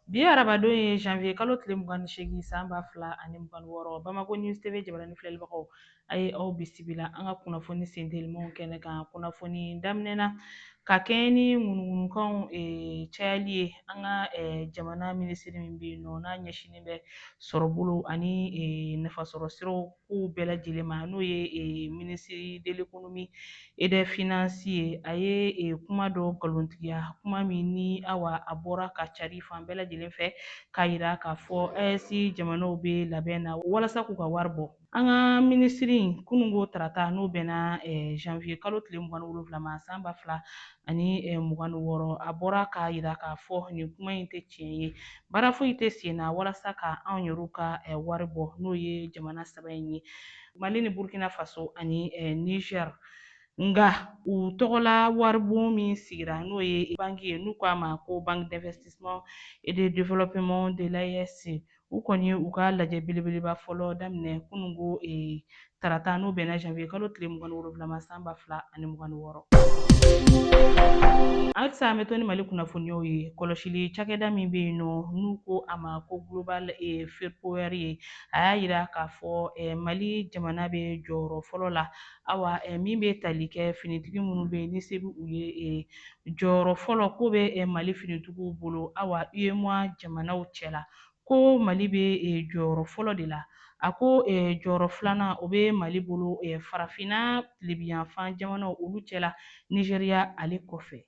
bi arabadon ye janvier kalo tile mugan ni seegin san ba fila ani mugan wɔɔrɔ bamakɔ news tv jabaranin filɛlibagaw a ye aw bisimila an ka kunnafoni sentelimanw kɛnɛ kan kunnafoni daminɛ na ka kɛɲɛ ni ŋunuŋunukanw eh, cayali ye an ka eh, jamana minisiri min bɛ yen nɔ n'a ɲɛsinnen bɛ sɔrɔbolo ani eh, nafasɔrɔ siraw kow bɛɛ lajɛlen ma n'o ye eh, minisiri de l'économie et des finances ye a ye eh, kuma dɔ nkalontigiya kuma min ni awa a bɔra ka cari fan bɛɛ lajɛlen fɛ k'a yira k'a fɔ AES jamanaw bɛ labɛn na walasa k'u ka wari bɔ an ka minisiri in kununko tarata n'o bɛnna eh, janvier kalo tile mugan ni wolonwula ma san ba fila ani mugan ni wɔɔrɔ a bɔra k'a yira k'a fɔ nin kuma in tɛ tiɲɛ ye baara foyi tɛ sen na walasa ka anw yɛrɛw ka wari bɔ n'o ye jamana saba in ye mali ni burkina faso ani niger nka u tɔgɔla waribon min sigira n'o ye banki ye n'u k'a ma ko banque d'investissement et de développement de l'AES u kɔni y'u ka lajɛ belebeleba fɔlɔ daminɛ kununko e, tarata n'o bɛnna janvier kalo tile mugan ni wolonwula ma san ba fila ani mugan ni wɔɔrɔ halisa an bɛ to ni mali kunnafoniyaw ye kɔlɔsili cakɛda min bɛ yen nɔ n'u ko a ma ko global e, Firepower ye a y'a yira k'a fɔ e, mali jamana bɛ jɔyɔrɔ fɔlɔ la awa min bɛ tali kɛ finitigi minnu bɛ yen ni se bɛ u ye jɔyɔrɔ fɔlɔ ko bɛ mali finitigiw bolo awa UEMOA jamanaw cɛla ko mali bɛ jɔyɔrɔ fɔlɔ de la a ko jɔyɔrɔ filanan o bɛ mali bolo farafinna tilebinyanfan jamanaw olu cɛla nizeriya ale kɔfɛ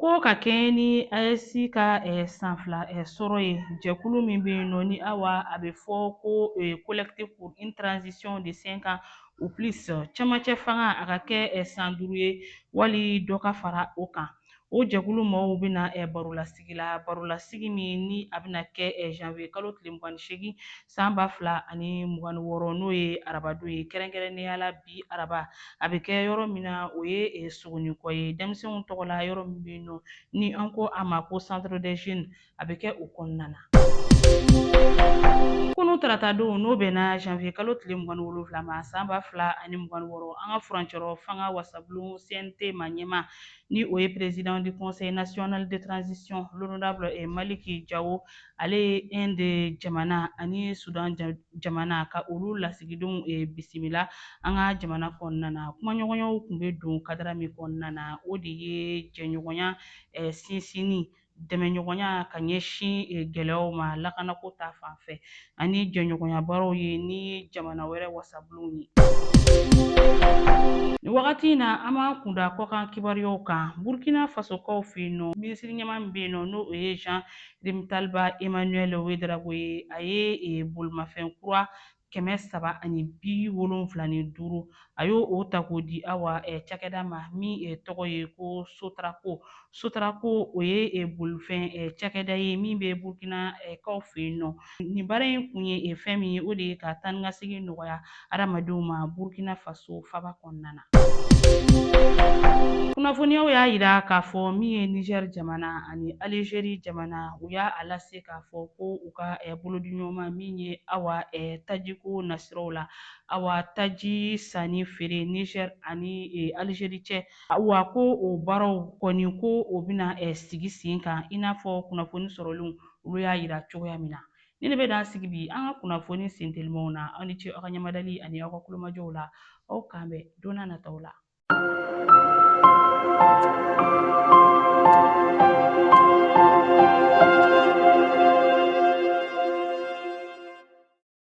ko ka kɛɲɛ ni AES ka san fila sɔrɔ ye jɛkulu min bɛ yen nɔ ni awa a bɛ fɔ ko collectif pour une transition de 5 ans ou plus cɛmancɛ fanga a ka kɛ san duuru ye wali dɔ ka fara o kan o jɛkulu mɔgɔw bɛna barolasigi la barolasigi min ni a bɛna kɛ janvier kalo tile mugan ni seegin san ba fila ani mugan ni wɔɔrɔ n'o ye arabadon ye kɛrɛnkɛrɛnnenya la bi araba a bɛ kɛ yɔrɔ min na o ye sogoninkɔ ye denmisɛnw tɔgɔ la yɔrɔ min bɛ yen nɔ ni an ko a ma ko centre des jeunes a bɛ kɛ o kɔnɔna na. Kunun tarata don n'o bɛnna janvier kalo tile mugan ni wolonwula ma san ba fila ani mugan ni wɔɔrɔ an ka furancɛrɔ fanga wasabulon CNT maa ɲɛmaa ni o ye président du conseil national de transition l'honorable eh, Maliki Jawo ale ye Inde jamana ani Soudan jamana ka olu lasigidenw eh, bisimila an ka jamana kɔnɔna na kumaɲɔgɔnyaw tun bɛ don kadara min kɔnɔna na o de ye jɛɲɔgɔnya eh, sinsinni dɛmɛɲɔgɔnya ka ɲɛsin eh, gɛlɛyaw ma lakanako ta fan fɛ ani jɛɲɔgɔnya baaraw ye ni jamana wɛrɛ wasabulonw ye nin wagati in na an b'an kunda kɔkan kibaruyaw kan burkina fasokaw fɛ yen nɔ minisiri ɲɛma min bɛ yen nɔ n'o ye jean rimtalba emmanuel ouedraogo ye a ye eh, bolimafɛn kura kɛmɛ saba ani bi wolonfila ni duuru a y'o ta k'o di awa eh, cakɛda ma min eh, tɔgɔ ye ko sotraco sotraco o ye eh, bolifɛn eh, cakɛda ye min bɛ burkina eh, kaw fɛ yen nɔ nin baara in kun ye eh, fɛn min ye o de ye ka taanikasegin nɔgɔya adamadenw ma burkina faso faba kɔnɔna na Kunnafoniyaw y'a yira k'a fɔ min ye Niger jamana ani Algerie jamana u y'a lase k'a fɔ ko u ka eh, bolodiɲɔgɔnma min ye Awa eh, tajiko nasiraw la Awa taji sanni feere Niger ani eh, Algerie cɛ Awa ko o baaraw kɔni ko o bɛna eh, sigi sen kan i n'a fɔ kunnafoni sɔrɔlenw olu y'a yira cogoya min na Nin de bɛ dan sigi bi an ka kunnafoni sentelimanw na aw ni ce aw ka ɲamadali ani aw ka kulomajɔw la aw k'an bɛn don n'a nataw la